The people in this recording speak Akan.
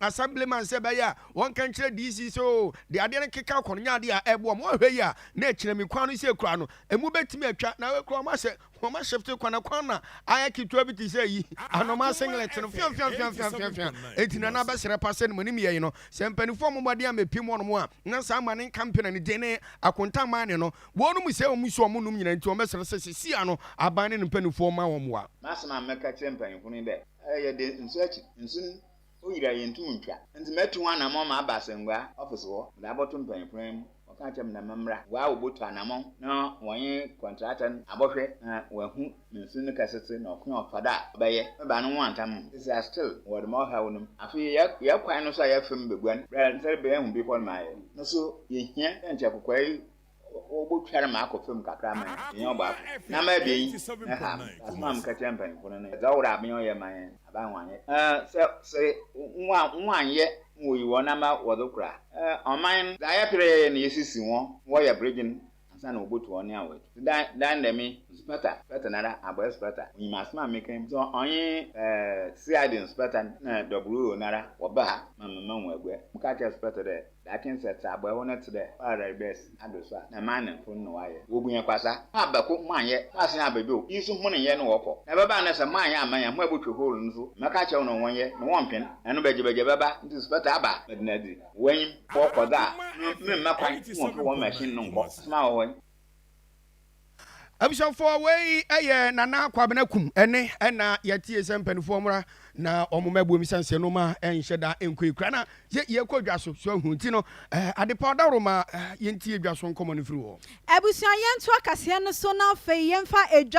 Assemblyman sɛ ɛbɛyɛ a wɔnka nkyerɛ DC sɛ oo deɛ adeɛ no keka kɔ no nyɛ adeɛ a ɛboa wɔn. Wɔhwɛ yie a, na akyire me kwan no sei koraa no, emu bɛtumi atwa. Na wei koraa wɔn ahyɛ, wɔn ashifte kwan, na kwan no ayɛ ketewa bi te sɛ ayi, anoma singlet no, fianfianfianfianfianfian. Enti na na abɛsrɛ pa sɛ nea monim yɛe no, sɛ mpaninfoɔ mmɔ mmɔden ammɛpem wɔnom a, na saa mma no nka mpena ne din ne akontaman ne no. Wɔnom sɛ wɔn nsuo a wɔnom nyinaa nti, wɔbɛsrɛ sɛ seesei ara no aban ne ne mpaninfoɔ mma wɔn mmoa. M'asɛm a mɛka akyerɛ mpaninfoɔ no ni dɛ, Ɛyɛ den, nsu akyi, nsu no O Yira yenntum nntwa. Ntsi metu ho anamɔn ma aba asɛngua ɔfese hɔ, medze abɔto mpanyimfo no anan mu, wɔkã akyerɛ me dɛ membra, woaa wobotu anamɔn na wɔnye kɔntrakta no abɔhwɛ na woehu me nsu ne kɛsetse na ɔkõ a ɔfa do a ɔbɛyɛ, mebaa no nwantam ho, sese a still mowɔ dɛm ɔhaw no mu. Afei yɛ yɛ kwan no so a yɛfem beguan, bra ntsɛrbea ehu bepɔw no ma ayɛ no so yehia dɛ nkyɛ kokwaa yi wɔbotwar me akɔ famu kakra ma yɛanyɛ ɔbaako na ama ebien yi na ha me. Asɛm a mekã kyerɛ mpanyimfo no nye dza ɔwɔ dɛ aban yi ɔyɛ ma hɛn no, aban wɔannyɛ. Sɛ sɛ wɔannyɛ na woyi hɔn ama wɔdze kor a, ɔman no dza yɛper yɛyɛ no yesisi hɔn ma wɔyɛ berdwen ansaana wobotu hɔn nea woetu. Ntsi dɛn dɛn nda me nspɛta, nspɛta noara, abɔe nspɛta, onyim asɛm a mekã yi mu. So ɔnye CID nspɛta na WO noara wɔba ha ma mema hɔn aguar? Mekã kyerɛɛ nspɛta dɛ, Daakye nsɛtseabɔ horow no tse dɛ Paradise Bɛs ado so a na Maanefo no na wɔayɛ. Wobu hɛn kwasa. Kaar bɛko mma nnyɛ, baase na abɛdwow, iyi so hɔn nnyɛ na wɔkɔ. Na ɛbɛba ndɛ sɛ maannyɛ amma yɛn ho ebotwe horow no so, mɛka akyerɛ hɔn dɛ wɔnyɛ na wɔmpen. Ɛno bɛgyebɛgye bɛba, ntsi Sparta aba a, bɛda no edzi. Wɔ enyim hɔ kɔ dza a, no, meremmɛ kwan mma wɔmmfa hɔn machine no nnkɔ asɛm a ɔwɔ hɔ yi. Abusuafoɔ wei yɛ Nana Kwabena Kum ɛne ɛna yɛtie sɛ mpanifoɔ mmra na wɔn mɛboa mu sɛn sɛ noma ɛnhyɛ da nkɔ ekura na yɛ yɛkɔ dwa so so ahu nti no eh, adepa ɔdaworo ma eh, yɛntie dwa so nkɔmɔ no firi wɔ. Abusua yɛnto akaseɛ no so na afei yɛmfa edwa.